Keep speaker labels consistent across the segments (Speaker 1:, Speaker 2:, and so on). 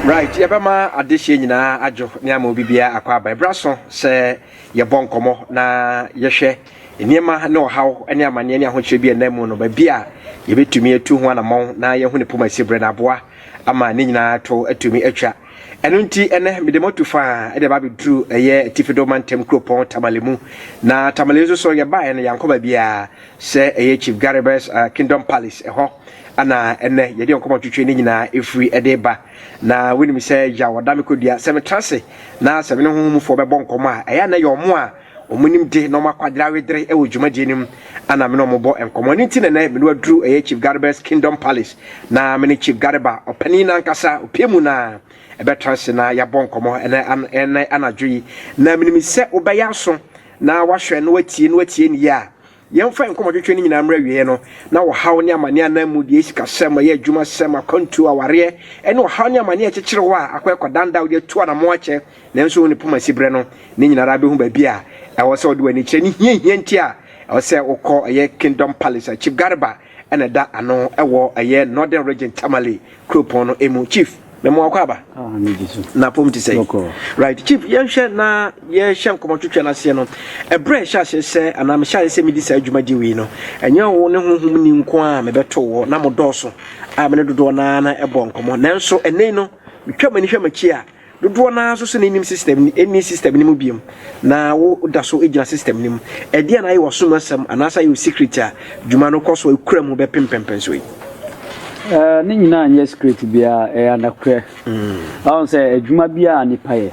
Speaker 1: right yɛbɛma adehyeɛ nyinaa adwo ne ama obi biara akɔ aba ɛberɛ so sɛ yɛbɔ nkɔmmɔ na yɛhwɛ nneɛma ne ɔhaw ne amanneɛ ne ahokyerɛ bi ɛnam mu no baabi a yɛbɛtumi atu ho anammɔn na yɛhu ne poma si berɛ no aboa ama ne nyinaa to atumi atwa. Ɛno nti, ɛnɛ mede mo atu faa de aba abɛduru ɛyɛ Atifi Do Mantam kuropɔn Tamale mu. Na Tamale nso so yɛbaeɛ no yɛankɔ baabiara sɛ ɛyɛ Chief Garibus uh, Kingdom Palace ɛhɔ ana ɛnɛ yɛde nkɔmmɔ twitwe ne nyinaa ɛfiri ɛde ba. Na wonim sɛ yaw ɔda me kɔdua sɛ metra ase na sɛ me ne honhomfoɔ bɛbɔ nkɔmmɔ a ɛyɛ na yɛ ɔmo a Wɔn nimde na wɔn akwadare awedere wɔ dwumadie no mu a na me ne wɔn bɔ nkɔmmɔ. Ɛno nti na ɛnnɛ me ne waduru ɛyɛ Chief Gareba's Kingdom Palace na me ne Chief Gareba ɔpanin no ankasa opie mu na ɛbɛtra ase na yɛabɔ nkɔmmɔ ɛnɛ an ɛnɛ anadwo yi. Na menim sɛ wobɛyɛ aso na wahwɛ na watie na watie no yie a Yɛmfa yɛn nkɔmmɔtwetwe no nyinaa mmra awieeɛ no, na ɔhaw ne amaneɛ anaa mmudeɛ, sikasɛm, ɔyɛ adwumasɛm, akwantuo, awareɛ, ne ɔhaw ne amaneɛ a ɛkyekyere hɔ a akɔ ɛkɔdanda a wode atu anammɔn akyɛ nanso wo ne poma si berɛ no, ne nyina ara bɛhu baabi a ɛwɔ sɛ wode w'ani kyerɛ ne hiahia nti a ɛwɔ sɛ wokɔ ɛyɛ Kingdom Palace a Chief Garba na ɛda ano wɔ ɛyɛ Northern Region Tamale kuropɔn no mu. Chief, me mo akɔ aba. Ah, me di so. Na pom ti sɛ. Right, Chief, yɛnhwɛ na yɛhyɛ nkɔmɔ twetwe no aseɛ no. Ɛbrɛ ɛhyɛ aseɛ sɛ anaa mehyɛ aseɛ sɛ medi saa adwuma gye wei no. Ɛnyɛ wo ne honhom ni nko a mebɛto wɔ na mo dɔɔso a me ne dodoɔ naa na ɛbɔ nkɔmɔ. Nanso ɛnɛ no metwa m'ani hwɛ m'akyi a Dodoɔ no ara nso sɛ na nnim system no, nni system no mu biom, na wo da so gyina system no mu. Ɛdeɛn na ayɛ w'asom asɛm anaasɛ ayɛ wo secret a dwuma no kɔ so a ekura mu bɛpem mpɛnpɛnsoɔ yi? Ɛɛ,
Speaker 2: ne nyinaa nyɛ secret biara, ɛyɛ anokorɛ. Wahu sɛ adwuma biara a nipa yɛ,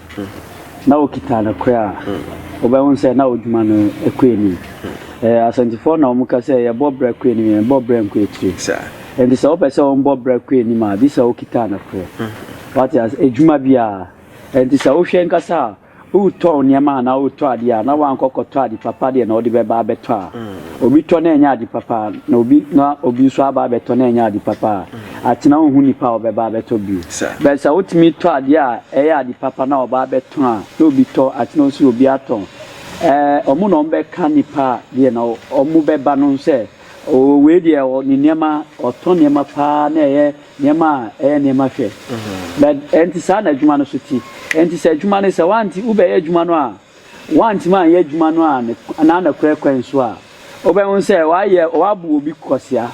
Speaker 2: na okita anokorɛ a, wobɛhu sɛ na odwuma no kɔ anim. Ɛɛ, Asantefoɔ na wɔka sɛ yɛbɔ bra kɔ anim, yɛnbɔ bra nkɔ akyire. Nti sɛ wopɛ sɛ wɔbɔ bra kɔ anim a, gye sɛ wokita anokorɛ. Wate ase? Adwuma bi a ɛnti sɛ wohwɛ ankasa a, woretɔn nneɛma anaa woretɔ adeɛ a, na woankɔ kɔtɔ ade papa deɛ na wode bɛba abɛtɔ a, obi tɔ na ɛnyɛ ade papa na obi na obi nso aba abɛtɔ na ɛnyɛ ade papa a, akyena wonhu nipa a ɔbɛba abɛtɔ bio. But sɛ wotumi tɔ adeɛ a ɛyɛ ade papa na ɔba abɛtɔn a, na obi tɔ, akyena nso obi atɔn. Ɛɛ, wɔn na wɔbɛka nipa a deɛ na wɔbɛba no sɛ, oo wei deɛ ɔ, ne nneɛma, ɔtɔ nneɛma paa na ɛyɛ. Nneɛma a ɛyɛ nneɛma hwɛ. Na ɛnte saa na adwuma no so te. Ɛnte sɛ adwuma no, sɛ woante, wobɛyɛ adwuma no a, woantumi anyɛ adwuma no a ne, anaa nokorɛ kwan so a, wobɛhu sɛ woayɛ, woabu obi kwasea,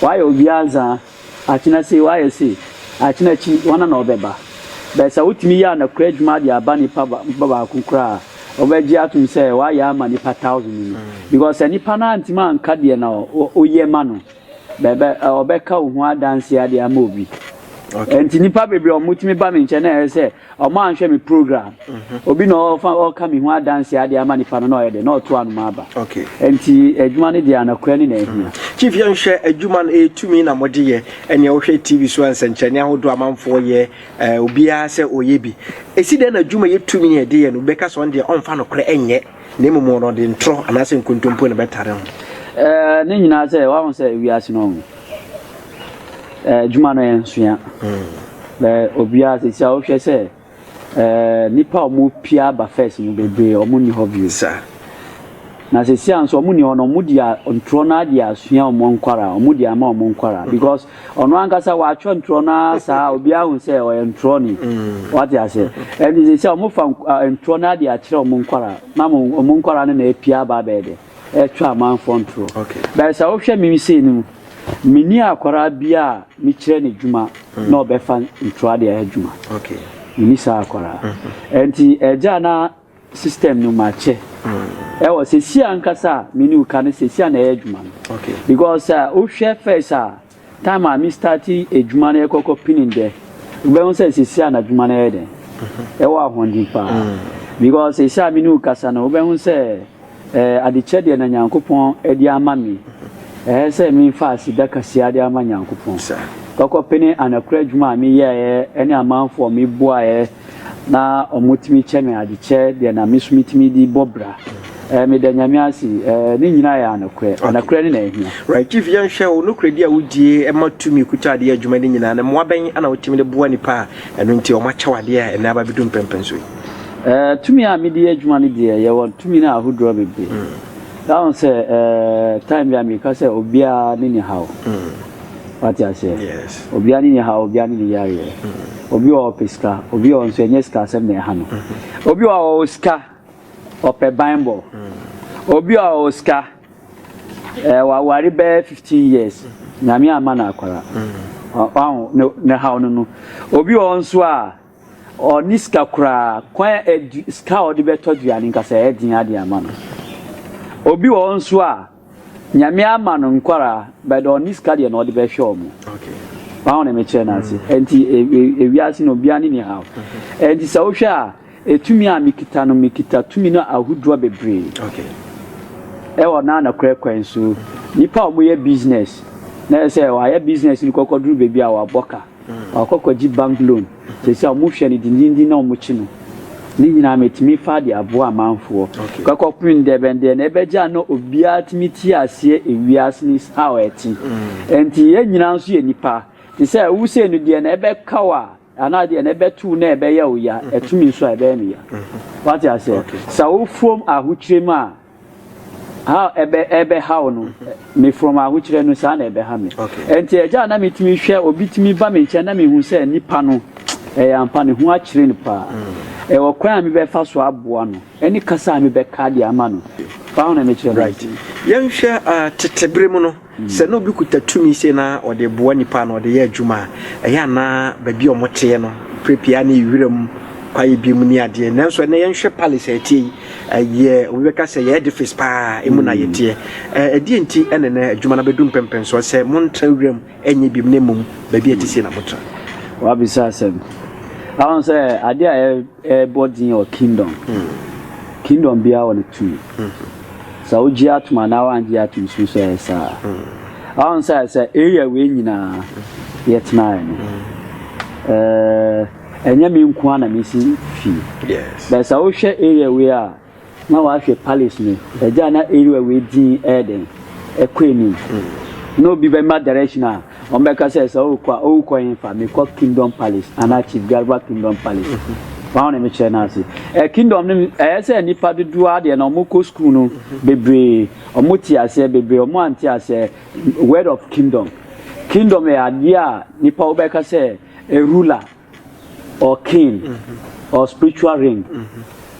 Speaker 2: woayɛ obi anzaa, akyena sei, woayɛ sei, akyena akyi, hwana na ɔbɛba? But sɛ wotumi yɛ anokorɛ adwuma de aba nipa ba, nipa baako koraa a, wobɛgye atom sɛ woayɛ ama nipa thousand no. Because sɛ nipa no antumi anka deɛ na wo, woyɛ ma no. Bɛbɛ ɔbɛka wo ho adanseɛ ade ama obi. Okay. Nti nipa bebree ɔmo tumi ba mi nkyɛn na ɛyɛ sɛ ɔmo anhwɛ mi program. Mhm. Obi na ɔfa ɔka mi ho adanseɛ ade ama nipa no na ɔyɛ dɛ na ɔto anoma aba. Okay. Nti adwuma no deɛ anakura ne na ehia. Mhm. Chief yɛn hwɛ
Speaker 1: adwuma no etumi na mo de yɛ ɛnea wohwɛ TV so nsɛnkyerɛnne ahodoɔ amanfoɔ yɛ ɛɛ obiara sɛ ɔyɛ bi. Esi dɛn na adwuma yɛ tumi yɛ de yɛ no bɛka sɛ ɔn deɛ ɔnfa no korɛ ɛnyɛ. Na mmom wɔn no, ɔde ntorɔ anaasɛ nkontompo na ɛbɛtare ho. Ɛɛ, ne nyinaa
Speaker 2: sɛ, wahu sɛ wiase no, ɛɛ, adwuma no yɛ nsoa. Bɛ obiara sisi a wohwɛ sɛ, ɛɛ, nipa a wɔn pia aba fɛs no bebree wɔn nni hɔ bio. Sa.
Speaker 1: Na
Speaker 2: sisi a nso wɔn nni hɔ no, wɔn di a ntorɔ no adi asua wɔn nkwara, wɔn di ama wɔn nkwara because. Ɔno ankasa watwerɛ ntorɔ no ara saa a obiara hu sɛ ɔyɛ ntorɔni. Wate aseɛ? Ɛnti sɛ sɛ wɔfa ntorɔ no ara de akyerɛ wɔn nkwadaa na wɔn nkwadaa no na apia aba abɛyɛ dɛ? Ɛretwa amanfoɔ ntorɔ. But sɛ wohwɛ me sei no mu, menni akwadaa biara a mekyerɛ no adwuma na ɔbɛfa ntorɔ de ayɛ adwuma. Menni saa akwadaa. Ɛnti agya no a. System no makyɛ ɛwɔ sɛsi ankasa a me ne wo ka no sɛsi a na ɛyɛ adwuma no because sɛ wo hwɛ first a time a me start adwuma no yɛ kɔkɔ pini dɛ wo bɛ hu sɛ sɛsi a na adwuma no yɛ dɛn ɛwɔ ahoɔden paa because sɛsi a me ne wo kasa no wo bɛ hu sɛ Ɛɛ adekyɛ deɛ na Nyankopɔn de ama me, ɛɛ sɛ me fa aseda kaseɛ de ama Nyankopɔn, kɔkɔ pene anakura adwuma a me yɛɛɛ ɛne amanfoɔ a me boaɛɛ na ɔmo tumi kyɛ me adekyɛ deɛ na me so me tumi de bɔ bra, ɛɛ me da Nyame ase, ɛɛ ne nyinaa yɛ anokorɛ, anokorɛ ne na ahia. Right chief yɛn hwɛ wo
Speaker 1: nokorɛdi a wo die ɛma tumi kuta adeɛ adwuma ne nyinaa no mmoa bɛn na wo tumi de boa nipa a ɛno nti ɔmo akyɛ wo adeɛ a ɛnɛ aba bɛ du mpɛmpɛnso yi. Eh, tumi
Speaker 2: a mede yɛ adwuma no deɛ, yɛwɔ tumi no ahodoɔ bebree. Na ho sɛ, eh, time bi a meka sɛ obiara ne ne haw. Wate aseɛ? Yes. Obiara ne ne haw, obiara ne ne yareɛ. Obi wɔ ɔpɛ sika, obi wɔ nso ɛnyɛ sika asɛm na ɛha no. Obi wɔ ɔwɔ sika, ɔpɛ banbɔ. Obi wɔ ɔwɔ sika, eh, waware bɛyɛ 15 years, nyame amma no akwara. Ɔho, ne haw no no. Obi wɔ nso a, Ɔnni sika koraa. Kwan a adu sika a ɔde bɛtɔ aduane nka sɛ ɛyɛ den ara de ama no. Obi wɔ hɔ nso a, Nyame ama no nkwadaa, but ɔnni sika deɛ na ɔde bɛhwɛ wɔn. Wahu deɛ mekyerɛ no ase? Ɛnti ewiase no obiara ne ne haw. Ɛnti sɛ wohwɛ a, etumi a mekita no, mekita tumi no ahodoɔ bebree.
Speaker 1: Ɛwɔ
Speaker 2: na nokorɛ kwan so. Nnipa a wɔyɛ business, na ɛyɛ sɛ wɔayɛ business no kɔkɔduru baabi a wɔabɔ ka. Ɔkɔ kɔgye bank loan sɛsi a ɔmo hwɛ no dindindin na ɔmo kye no ne nyinaa metumi faa de aboa amanfoɔ kɔ kɔ pem dɛ bɛn deɛ na ɛbɛgye a na obiara tumi te aseɛ ewiase no is how ɛte ɛnti yɛn nyinaa nso yɛ nipa te sɛ wo sei no deɛ na ɛbɛka wo a anaa deɛ na ɛbɛto wo na ɛbɛyɛ wo ya ɛto me nso a ɛbɛyɛ me ya wate aseɛ sa wo fom ahokyerɛ mu a. ha ɛbɛ ɛbɛhaw no mefrɔm ahokyerɛ no saa na ɛbɛha me ɛnti ɛgya a na metumi hwɛ obi tumi ba me nkyɛn na mehu sɛ nipa no ɛyɛ ampa ne ho akyerɛ no paa ɛwɔ kwan a mebɛfa so aboa no ɛne kasa a mebɛka de ama no paa na mekyerɛ no right yɛnhwɛ
Speaker 1: uh, tetebere mu no Sɛ na obi kuta tumi sei na ɔde boa nnipa anaa ɔde yɛ adwuma a, ɛyɛ a na baabi a wɔteɛ no, berɛ pii ara na ɛyɛ wiram kwaeɛ bi mu ne adeɛ. Nanso ɛnnɛ yɛnhwɛ palace a ɛteɛ yi, ɛyɛ, obi bɛka sɛ ɛyɛ edifice pa ara, emu na yɛteɛ. Ɛ, ɛdeɛn nti na ɛnnɛ adwuma no abɛdu mpɛmpɛnsoɔ sɛ montra wiram nyɛ biom na mmom baabi a ɛte sei na motra? Woabisa
Speaker 2: asɛm. Woahu sɛ adeɛ a ɛ, ɛbɔ din wɔ kingdom, kingdom biara wɔ ne tumi. Sɛ wogye atom anaa woangye atom suro sɛ ɛyɛ saa. Ahon sɛ sɛ area wei nyinaa yɛtenaeɛ no, ɛnyɛ me nko ara na mesi fie. Bɛɛ sɛ
Speaker 1: wohwɛ area
Speaker 2: wei a na wahwɛ palace no, ɛgya na area wei din ɛyɛ dɛn ɛkɔ anim. Na obi bɛma direction a Wɔbɛka sɛ sɛ wokɔ a wokɔ hefa? Mekɔ Kingdom Palace anaa Chief Garba Kingdom Palace. Wɔn a wɔne me kyerɛ no ase. Ɛ Kingdom no ɛyɛ sɛ nnipa dodoɔ ara deɛ na wɔkɔ sukuu no bebree, wɔte aseɛ bebree, wɔn a wɔnte aseɛ word of Kingdom. Kingdom yɛ adeɛ a nnipa wobɛka sɛ a ruler or king or spiritual ring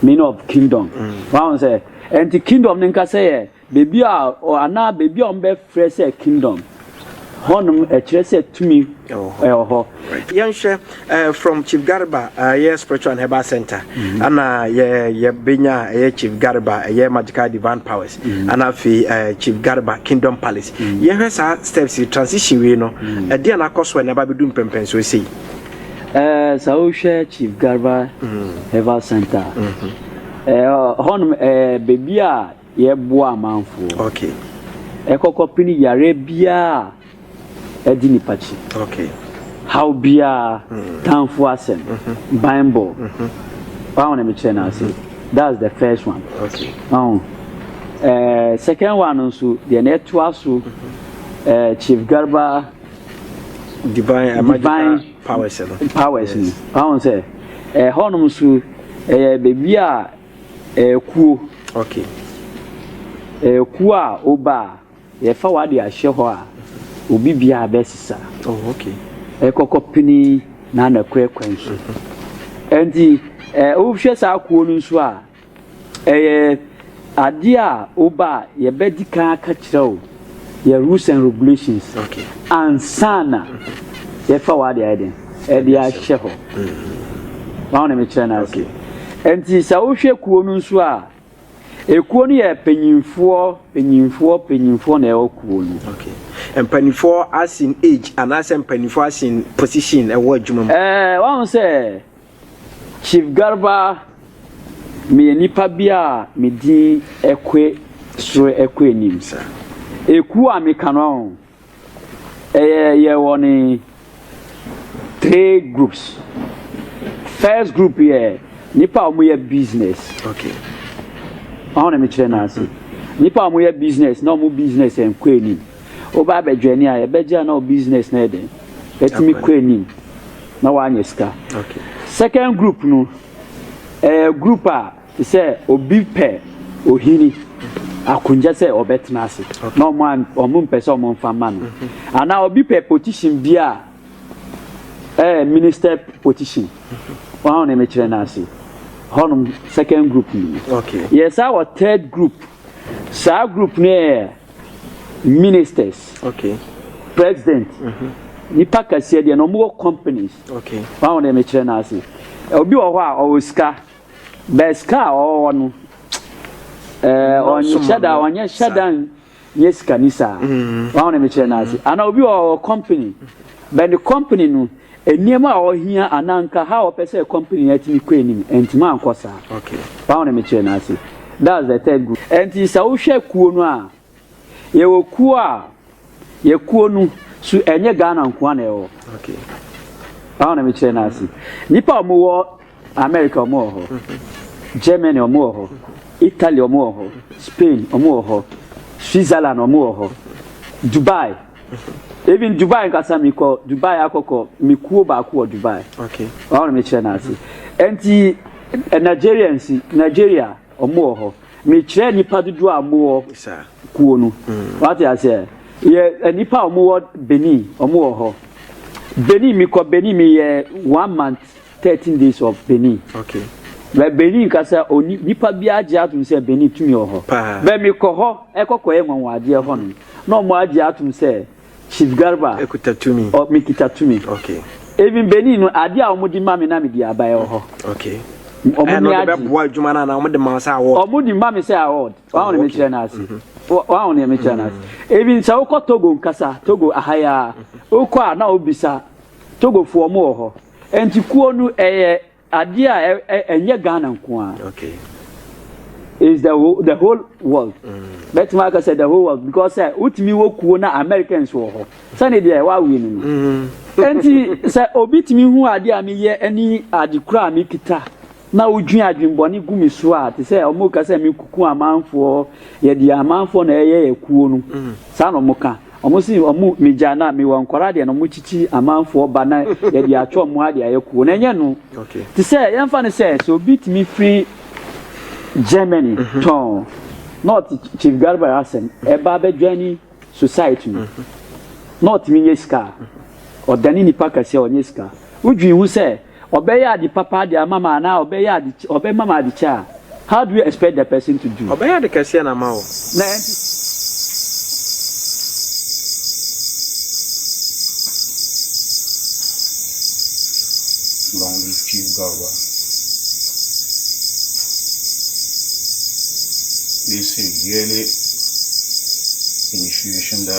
Speaker 2: meaning of Kingdom. Wɔahu sɛ ɛnti Kingdom no nkasa yɛ Beebi a ɔ anaa beebi a wɔbɛfrɛ sɛ kingdom, hɔnom ɛkyerɛ sɛ tumi Ɛwɔ hɔ. ɛwɔ hɔ. Right. Yɛnhwɛ
Speaker 1: eh, from Chief Garba eh, ɛyɛ Spiritual and Herbal Center ana yɛ yɛbɛnya a ɛyɛ Chief Garba ɛyɛ Magical Divine Powers ana afei eh, Chief Garba Kingdom Palace. Yɛhwɛ saa steps yi transition wei no ɛdeɛ na akɔ so a ɛna ɛba abɛdu mpɛmpɛnsoɔ sei. Ɛɛ,
Speaker 2: sɛ wohwɛ Chief Garba Herbal Center a, ɛɛ, hɔnom ɛyɛ beebi a Yɛboa amanfoɔ
Speaker 1: ɛkɔ
Speaker 2: kɔpene yareɛ biara a ɛdi nipa kyi,
Speaker 1: haw
Speaker 2: biara, tanfoɔ asɛm, banbɔ, waho na mekyerɛ no ase, that's the first one, waho
Speaker 1: eh,
Speaker 2: second one no nso deɛ na ɛtoa so eh, Chief Garba divine, divine powers
Speaker 1: no powers no, waho
Speaker 2: sɛ ɛhɔnom eh, nso ɛyɛ baabi a Akuo, ok. Akuo a woba a, yɛfa w'ade ahyɛ hɔ a, obi biara bɛsesa. Oh, ok.
Speaker 1: Ɛkɔkɔ pini
Speaker 2: na na kura kwan so. Ɛnti, ɛ wohwɛ saa akuo no nso a, ɛyɛ adeɛ a woba a, yɛbɛdi kan aka kyerɛ wo. Yɛ rules and regulations ansa
Speaker 1: na
Speaker 2: yɛfa wɔ ade ayɛ den ɛde ahyɛ hɔ wɔn na mekyerɛ no ase nti sɛ wohwɛ kuo no nso a ekuo no yɛ panyinfoɔ panyinfoɔ panyinfoɔ na ɛwɔ kuo no. Okay. mpanimfoɔ
Speaker 1: asin age anaasɛ mpanimfoɔ asin position ɛwɔ adwuma mu. ɛɛ wɔn sɛ
Speaker 2: Chief Garba, meyɛ nipa bi a me din kɔ soro kɔ anim. Ekuo a meka no ahu, ɛyɛ yɛwɔ ne three groups. First group yɛ nipa a wɔyɛ business.
Speaker 1: Okay.
Speaker 2: Wɔn na mekyerɛ n'ase. Nipa a wɔyɛ business na wɔn business nkɔ anim. Woba abɛjoini a yɛbɛgye a na wo business no yɛ dɛn? Atumi kɔ anim na woanya sika. Second
Speaker 1: group no,
Speaker 2: ɛyɛ group a te sɛ obi pɛ ohini akonnwa sɛ ɔbɛtena ase na ɔmo an ɔmo mpɛ sɛ ɔmo nfa ma no. Mm-hmm. Anaa obi pɛ position bi a ɛyɛ minister position. Mm-hmm. Wɔn a wɔn mekyerɛ no ase. Hɔnom second group no. Yɛ saa wɔ
Speaker 1: third
Speaker 2: group. Saa group no yɛ ministers okay
Speaker 1: president
Speaker 2: mm -hmm. nipa kɛseɛ deɛ na ɔmo wɔ companies okay wɔn a deɛ
Speaker 1: mekyerɛ no
Speaker 2: ase obi wɔ hɔ a ɔwɔ sika bɛɛ sika a ɔwɔ no ɛɛ ɔnyɛ hyɛ da ɔnyɛ hyɛ da nyɛ sika ni saa wɔn a deɛ mekyerɛ no ase ana obi wɔ ɔwɔ company bɛɛ ne company no. Nneɛma a ɔhia anaa nka how ɔpɛ sɛ company no atumi kɔ anim antumi ankɔ saa. Paw na
Speaker 1: mekyerɛ no
Speaker 2: ase. That's the third group. Ɛnti sɛ wohwɛ kuo no a, yɛwɔ kuo a, yɛ kuo no so ɛnyɛ Ghana nkoa na ɛwɔ.
Speaker 1: Paw na
Speaker 2: mekyerɛ no ase. Nnipa a wɔwɔ America wɔn wɔ hɔ, Germany wɔn wɔ hɔ, Italy wɔn wɔ hɔ, Spain wɔn wɔ hɔ, Switzerland wɔn wɔ hɔ, Dubai. Even Dubai nkasa mi kɔ Dubai akɔkɔ mi kuo baako wɔ Dubai. Okay. Wɔn na mi
Speaker 1: kyerɛ
Speaker 2: n'ase. Nti eh, Nigerians Nigeria wɔn wɔ hɔ. Mi kyerɛ nipa dodoɔ a wɔn wɔ kuo no. Mm. Wate aseɛ yɛ eh, nipa a wɔn wɔ Benin wɔn wɔ hɔ. Benin mi kɔ Benin mi yɛ one month 13 days of benin okay bɛ
Speaker 1: benin
Speaker 2: kasa oni nipa bi agye atom sɛ benin tumi wɔ hɔ bɛ mi kɔ hɔ ɛkɔ kɔ yɛ nwanwa adeɛ hɔ no na ɔmo agye atom sɛ chief garba ɛkuta tumi ɔ mi
Speaker 1: kita tumi
Speaker 2: okay even
Speaker 1: benin no
Speaker 2: adeɛ a ɔmo di ma mi na mi di aba ɛwɔ hɔ okay
Speaker 1: ɔmo ni agye
Speaker 2: ɛbɛboa adwuma na ɔmo de
Speaker 1: ma sɛ award ɔmo di ma mi sɛ award
Speaker 2: wɔn a wɔn mi kyerɛ na ase wɔn a wɔn mi kyerɛ na ase even sɛ wokɔ togo nkasa togo ahaya wokɔ a na obisa togo fo ɔmo wɔ hɔ. Nti kuo no ɛyɛ adeɛ a ɛnyɛ Ghana nko ara. Okay. It's the whole, the whole world. Bɛtumi mm. aka sɛ the whole world because sɛ wotumi wɔ kuo na Americans wɔ hɔ sɛne deɛ wawe no no. Mm. Nti sɛ obi tumi hu adeɛ a meyɛ ne ade kura a mekita. na wodwin adwen bɔne gu me so a te sɛ ɔmo ka sɛ me kuku amanfoɔ yɛ deɛ amanfoɔ na ɛyɛ yɛ kuo no saa na ɔmo ka ɔmo se ɔmo me gya na me wɔ nkɔra deɛ na ɔmo kyikyi amanfoɔ ba na yɛ deɛ atwa ɔmo ha deɛ ayɛ kuo na ɛnyɛ no te sɛ yɛn fa
Speaker 1: no sɛ
Speaker 2: sɛ obi tumi firi Germany tɔn na ɔte Chief Garba asɛm ɛba abɛdwani society no na ɔtumi nyɛ sika ɔdane nipa kɛseɛ ɔnyɛ sika wodwin ho sɛ Ɔbɛyɛ ade papa de ama me anaa ɔbɛyɛ ade ɔbɛma me ade kyɛ a, how do you expect the person to do? Ɔbɛyɛ ade kɛseɛ na ama wo.
Speaker 1: Na ɛnte saa.
Speaker 3: Long live Chief Garba. They say yearly initiation that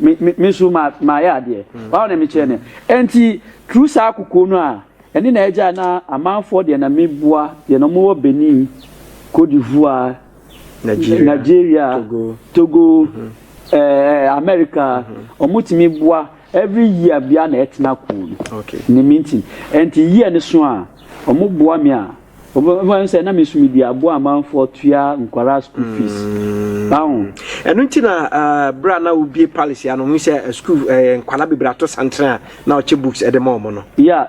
Speaker 2: Me, me, me nso ma, mayɛ adeɛ. Wɔn na mekyerɛ no. Ɛnti, through saa kokoɔ no a, ɛne na ɛgya na amanfoɔ deɛ na meboa, deɛ na wɔwɔ Benin, Côte d'Ivoire, Nigeria, Nigeria Togo, Togo ɛɛ, America, wɔtumi boa, every year biara na ɛtena kuu no. Okay. Ne mintin. Ɛnti year no so a, wɔboa me a, Wɔn sɛ na mesu mi di aboa amanfoɔ tua nkwaraa school fees. Báwo. Ɛno nti na
Speaker 1: bere a na wobie palace ano ho sɛ school nkwaraa bebree ato santere a na ɔkyɛ books ɛde ma wɔn no. Yeah.